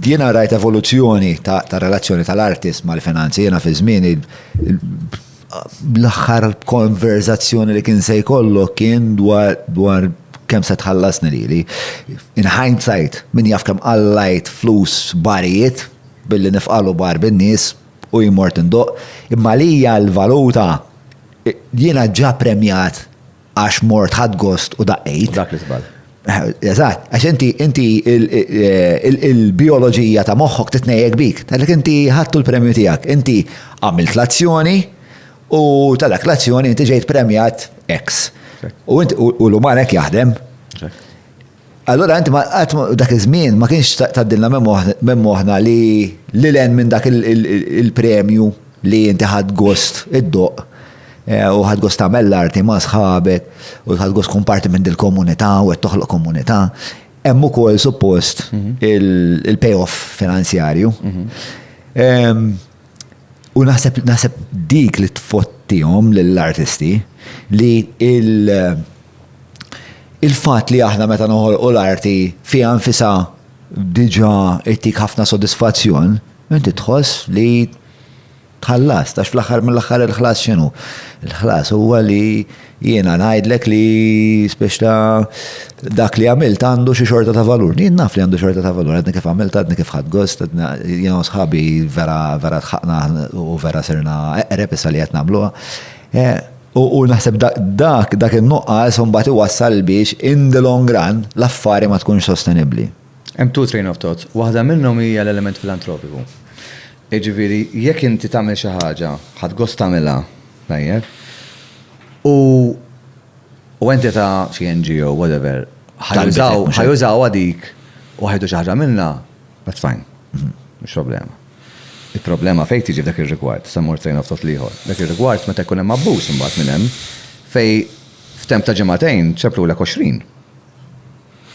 Jiena rajt evoluzzjoni ta', ta relazzjoni tal-artist mal-finanzi, jiena fi żmieni l-aħħar konverzazzjoni li kien se jkollok kien dwar, dwar kemm se tħallasni lili. In hindsight, min jaf kemm qallajt flus barijiet billi nifqalu bar bin-nies u jien mort indoqq, imma għalija l-valuta jiena ġa premjat għax mort ħadd gost u daqqejt. Dak li żball. Eżatt, għax inti inti il-bioloġija ta' moħħok titnejjek bik, tgħidlek inti ħadtu l-premju tiegħek, inti għamilt l-azzjoni u tal-dak l-azzjoni inti ġejt premjat X. U l-uman hekk jaħdem. Allura inti dak iż-żmien ma kienx tgħaddilna minn moħħna li lil hinn minn dak il-premju li inti ħadt gost iddoqq u ħadt gost tagħmel l-arti ma' sħabek u ħadt gost tkun parti minn dil-komunità u qed toħloq komunità, hemm ukoll suppost il-payoff finanzjarju. U naħseb naħseb dik li tfottihom lill-artisti li il- il-fat li aħna meta noħolqu l-arti fiha nfisa diġa ittik ħafna sodisfazzjon, inti tħoss li tħallas, tax fl-axar mill-axar il-ħlas xinu? Il-ħlas huwa li Jiena ngħidlek li speċta dak li għamilt għandu xi xorta ta' valur. Jien naf li għandu xorta ta' valur, għadni kif għamilt, għadni kif ħad gost, jien u sħabi vera vera tħaqna u vera sirna eqreb issa li qed nagħmluha. Eh, u naħseb dak dak in-nuqqas imbagħad iwassal biex in the long run l-affari ma tkunx sostenibbli. Hemm two train of thought. Waħda minnhom hija l-element filantropiku. Jiġifieri jekk inti tagħmel xi ħaġa, ħadd gost tagħmilha, Tajjeb. U u entità, xi NGO, whatever, ħajużaw, ħajużawha dik u ħajdu xi ħaġa minnha, that's fine. Mhux problema. Il-problema fejn tiġi f'dak ir-rigward, se mmur train of thought l-ieħor, dak ir-rigward meta jkun hemm abbuż imbagħad minn hemm fejn f'temp ta' ġimagħtejn ċemplulek għoxrin.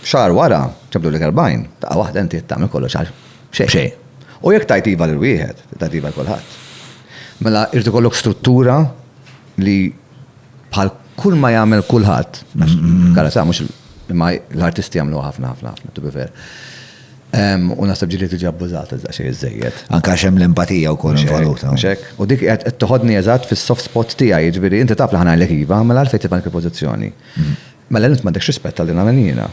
Xahar wara, ġabdulek erbgħin, daqqa waħda inti qed tagħmel kollox għal xejn. U jekk tgħid iva lil wieħed, trid tgħid iva lil kulħadd. Mela irid ikollok struttura li bħal kull ma jagħmel kulħadd, kara sa mhux imma l-artisti jagħmlu ħafna ħafna ħafna to be fair. U naħseb ġili tiġi abbużata iżda xejn iżejjed. Anka xem l-empatija wkoll involuta. U dik qed toħodni eżatt fis-soft spot tiegħi, jiġifieri inti taf li ħanajlek iva, mela għalfejn tibqa' dik il-pożizzjoni. Mela int m'għandekx rispett għalli nagħmel jiena.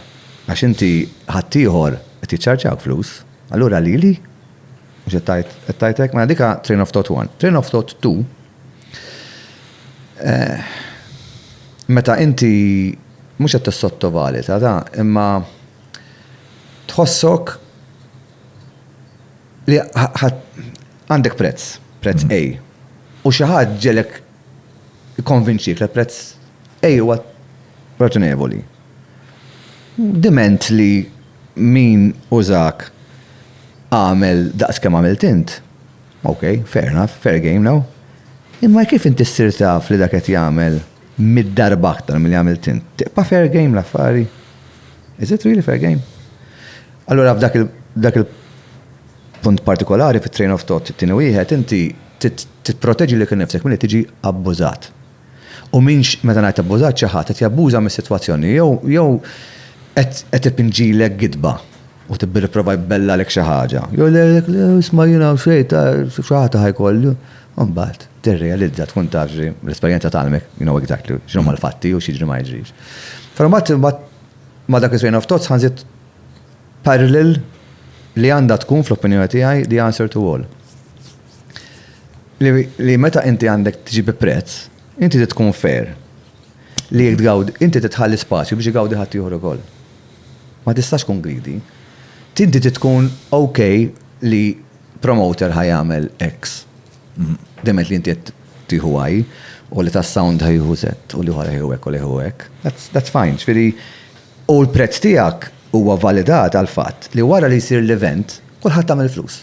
Għax inti ħaddieħor qed jiċċarġjak flus, allura lili? Mhux qed tgħid, qed tgħid hekk? Mela dika train of thought one. Train of thought two, meta inti mhux qed tissottovaluta da, imma tħossok li għandek prezz, prezz A, u xi ħadd ġegħelek jikkonvinċik li l-prezz A huwa raġonevoli. Diment li min użak għamel daqs kemm għamilt int, ok, fair enough, fair game now. Imma kif inti ssir taf li dak qed jagħmel mitt darba aktar milli għamilt int? Tibqa' fair game l-affari? Is it really fair game? Allura f'dak il-punt partikolari, fit-train of thought, it-tieni wieħed, inti tipproteġi lilek innifsek milli tiġi abbużat. U min, meta ngħid abbużat, xi ħadd qed jabbuża mis-sitwazzjoni jew qed ipinġilek gidba u tibbi tipprova jbellalek xi ħaġa. Jew jgħidlek, le isma' jien hawn xejn, ta' xi ħadd ta' ħajkollu. U mbagħad tirrealizza, tkun taf xi, l-esperjenza tgħallmek, you know exactly, x'inhuma l-fatti u x'jiġri ma jiġrix. Però mbagħad ma' dak it-train of thought saħansitr. parallel li għandha tkun fl-opinjoni tiegħi the answer to all. Li meta inti għandek tiġi bi prezz, inti trid tkun fair. Li jekk tgawd, inti trid tħalli spazju biex igawdi ħadd ieħor ukoll. Ma tistax tkun greedy. Tinti trid tkun ok li promoter ħa jagħmel X. Demet li inti qed tieħu Y u li tas-sound ħa jieħu Z u li ħora jieħu hekk u li jieħu hekk. That's fine. Ġifieri U l-prezz tiegħek huwa validat għall-fatt li wara li jsir l-event, kulħadd għamel flus.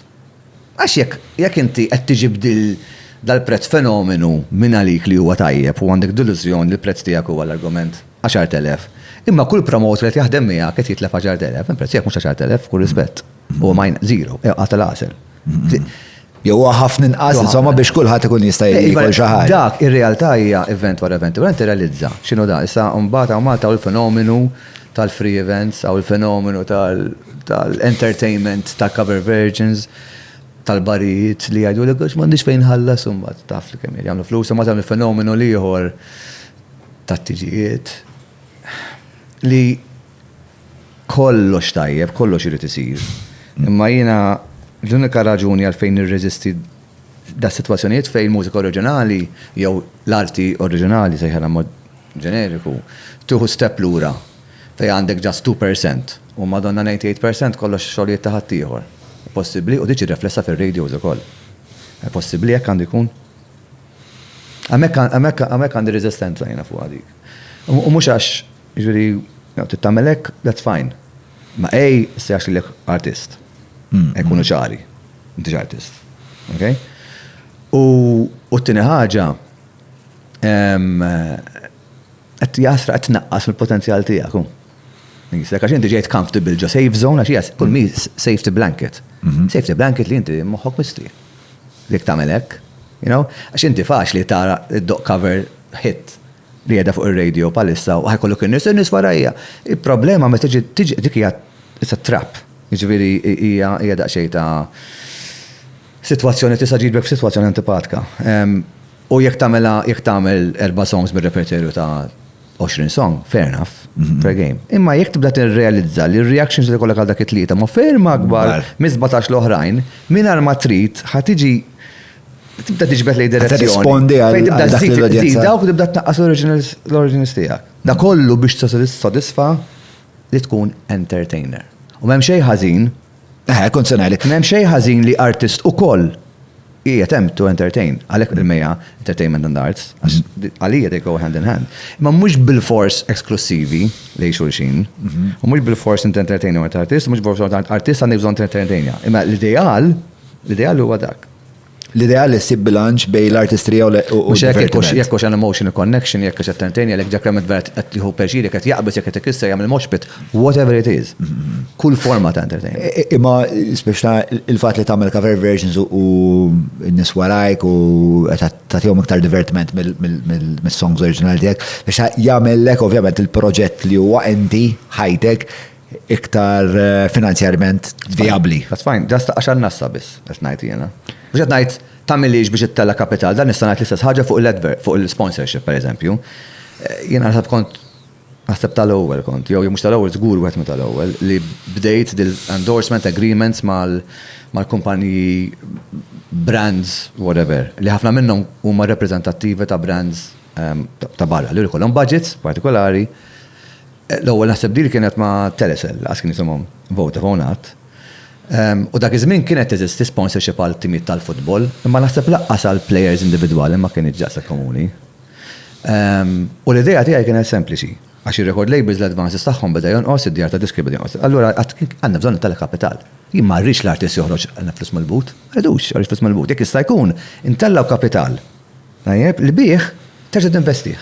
Għax jekk, jekk inti qed tiġi b'dil, dal-prezz fenomenu mingħalik li huwa tajjeb u għandek delużjoni li l-prezz tiegħek huwa l-argument, 10,000, imma kull promoter li qed jaħdem miegħek qed jitlef 10,000, il-prezz tiegħek mhux 10,000, b'kull rispett, huwa zero, inqas tal-għasel. Jew huwa ħafna inqas insomma biex kulħadd ikun jista' jiekol xi ħaġa. Dak ir-realtà hija event wara event. Ura inti realizza x'inhu dan. Issa mbagħad hawn Malta hawn il-fenomenu tal-free events, hawn il-fenomenu tal-entertainment ta' cover versions, tal-barijiet li jgħidulek għax m'għandix fejn nħallas u mbagħad taf li kemm jagħmlu flus, imbagħad hemm il-fenomenu l-ieħor tat-tiġijiet li Kollox tajjeb, kollox irid isir. Imma jiena l-unika raġuni għalfejn nirreżisti das-sitwazzjonijiet fejn mużika oriġinali jew l-arti oriġinali, sejħilha b'mod ġeneriku, tieħu step lura fejn għandek just two per cent u Madonna ninety eight per cent kollox xogħlijiet ta' ħaddieħor. Possibbli u tiġi riflessa fir-radios ukoll. Possibbli hekk għandu jkun? Hemmhekk hemmhekk hemmhekk għandi reżistenza jiena fuqha dik. U mhux għax Jiġifieri, jew trid tagħmel hekk, that's fine. Imma A ssejjaħx lilek artist. Nkunu ċari. M'intix artist. Okay? U t-tieni ħaġa, qed jasra qed tnaqqas mill-potenzjal tiegħek hu. Jekk għax inti ġejt comfortable ġo safe zone għax hija kull min safety blanket. Safety blanket li inti moħħok misti. Jekk tagħmel hekk. Għax inti faċli tara d-doq cover hit. li qiegħda fuq ir-radio bħalissa u ħa jkollok in-nies, in-nies warajja. Il-problema meta tiġi dik hija it's a trap. Jiġifieri hija hija daqsxejn ta' sitwazzjoni tista' ġibek f'sitwazzjoni antipatka. U jekk tagħmilha jekk tagħmel erba' songs mir-reperterju ta' 20 song, fair enough, fair game. Imma jekk tibda tirrealizza li r-reactions li jkollok għal dak it-tlieta ma' ferm akbar mis-sbatax l-oħrajn, mingħajr ma trid ħa tiġi tibda tiġbed lej direzzjoni. Rispondi għal dak l-udjenza. Dawk tibda tnaqqas l-originals tiegħek. Da kollu biex tissodisfa li tkun entertainer. U m'hemm xejn ħażin. Eh, kont se ngħidlek. M'hemm xejn ħażin li artist ukoll hija temp to entertain. Għalhekk il-meja entertainment and arts. Mhm. Għalija they go hand in hand. Ma mhux bil-fors eksklusivi lej xulxin. Mhm. U mhux bil-fors inti entertainer artist, mhux bil-fors artist għandek bżonn entertainer. Imma l-ideal L-ideal huwa dak. L-ideal li ssib bilanċ bejn l-artistrija u l-divertiment. Mhux hekk, jekk hux hemm emotional connection, jekk hux entertaining, jekk Jack Lemmon vera qed jieħu pjaċir, jekk qed jaqbeż, jekk qed ikisser, jagħmel mosh pit, whatever it is. Kull forma ta' entertainment. Imma speċta il-fatt li tagħmel cover versions u n-nies warajk u tagħtihom iktar divertiment mis-songs oriġinali tiegħek, biex jagħmellek ovvjament il-proġett li huwa enti ħajtek iktar eh, finanzjarjament viabli. That's fine, ġast għax għannassa biss, qed ngħid jiena. Mhux qed ngħid tagħmilix biex ittella kapital, dan nista' ngħid l-istess ħaġa fuq l-advert, fuq il-sponsorship pereżempju. Eh, jiena naħseb kont naħseb tal-ewwel kont, jew mhux tal-ewwel żgur wieħed minn tal-ewwel li bdejt dil-endorsement agreements mal-kumpaniji brands whatever, li ħafna minnhom huma reprezentattivi ta' brands ehm, ta' barra li jkollhom budgets partikolari L-ewwel naħseb deal kienet ma' Telecel, lanqas kien jisimhom Vodafone qatt. U dak iż-żmien kienet teżisti sponsorship għal timijiet tal-futbol, imma naħseb lanqas għal plejers individwali ma kinitx daqshekk komuni. U l-idea tiegħi kienet sempliċi, għax ir-record labels l-advances tagħhom beda jonqos, id-djar tad-diski beda jonqos. Allura qatt għandna bżonn it-telekapital. Jien ma rridx l-artist joħroġ għal flus mill-but. Ma rridux joħroġ flus mill-but. Jekk jista' jkun, intellgħu kapital tajjeb li bih terġa' tinvestih.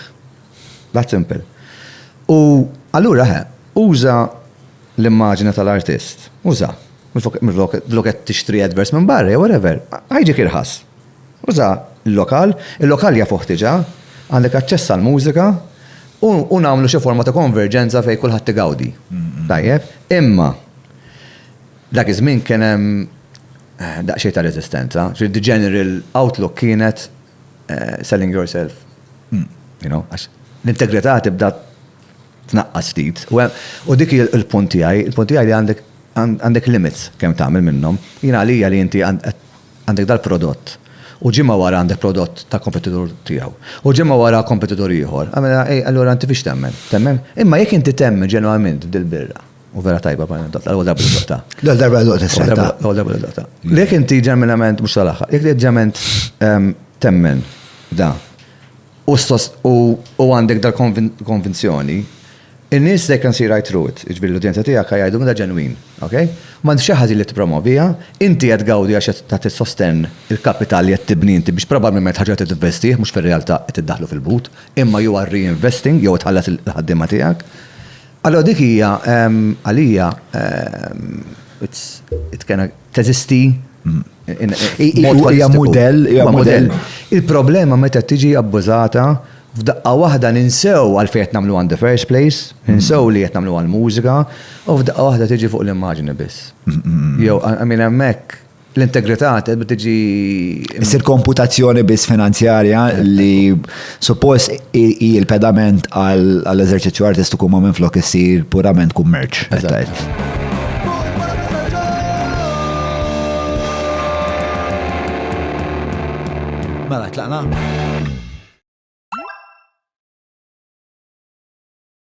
That simple. U allura eħe, uża l-immaġina tal-artist. Uża. Minflok qed tixtri adverts minn barra jew whatever, ħa jiġik irħas. Uża l-lokal, il-lokal jafuh diġà, għandek aċċess għall-mużika u nagħmlu xi forma ta' konverġenza fejn kulħadd igawdi. Tajjeb? Imma dak iż-żmien kien hemm daqsxejn ta' reżistenza. The general outlook kienet selling yourself. Għax l-integrità tibda tnaqqas ftit. U dik il-punt tiegħi, il-punt tiegħi li għandek għandek limits kemm tagħmel minnhom. Jien għalija li inti għandek dal-prodott u ġimgħa wara għandek prodott ta' kompetitur tiegħu. U ġimgħa wara kompetitur ieħor. Allura inti fiex temmen? Temmen? Imma jekk inti temmen ġenwament f'dil-birra. U vera tajba ma ndotta, l-għol darba ndotta. L-għol darba ndotta s-setta. L-għol darba ndotta. Lek inti ġeminament, mux tal-axħa, jek li ġeminament ehm, temmen da. U għandek dal konvenzjoni il-nis they can see right through it, iġbir l-udjenza tijak għajdu mda ġenwin, ok? Ma nti xaħġi li t-promovija, inti għed għawdi għax ta' t-sosten il-kapital li għed tibni inti biex probabilment ħagġa t-investi, mux fil-realta t-daħlu fil-but, imma ju għarri investing, jew tħallas il-ħaddima tijak. Allura dik hija għalija it can teżisti hija mudell hija mudell. Il-problema meta tiġi abbużata f'daqqa waħda ninsew għalfejn qed nagħmluha in the first place, ninsew li qed nagħmluha l-mużika u f'daqqa waħda tiġi fuq l-immaġni biss. Jew I mean hemmhekk L-integrità tibda tiġi. Issir komputazzjoni biss finanzjarja li suppost hi l-pedament għall-eżerċizzju artistiku ma minn flok issir purament kummerċ. Mela, tlaqna?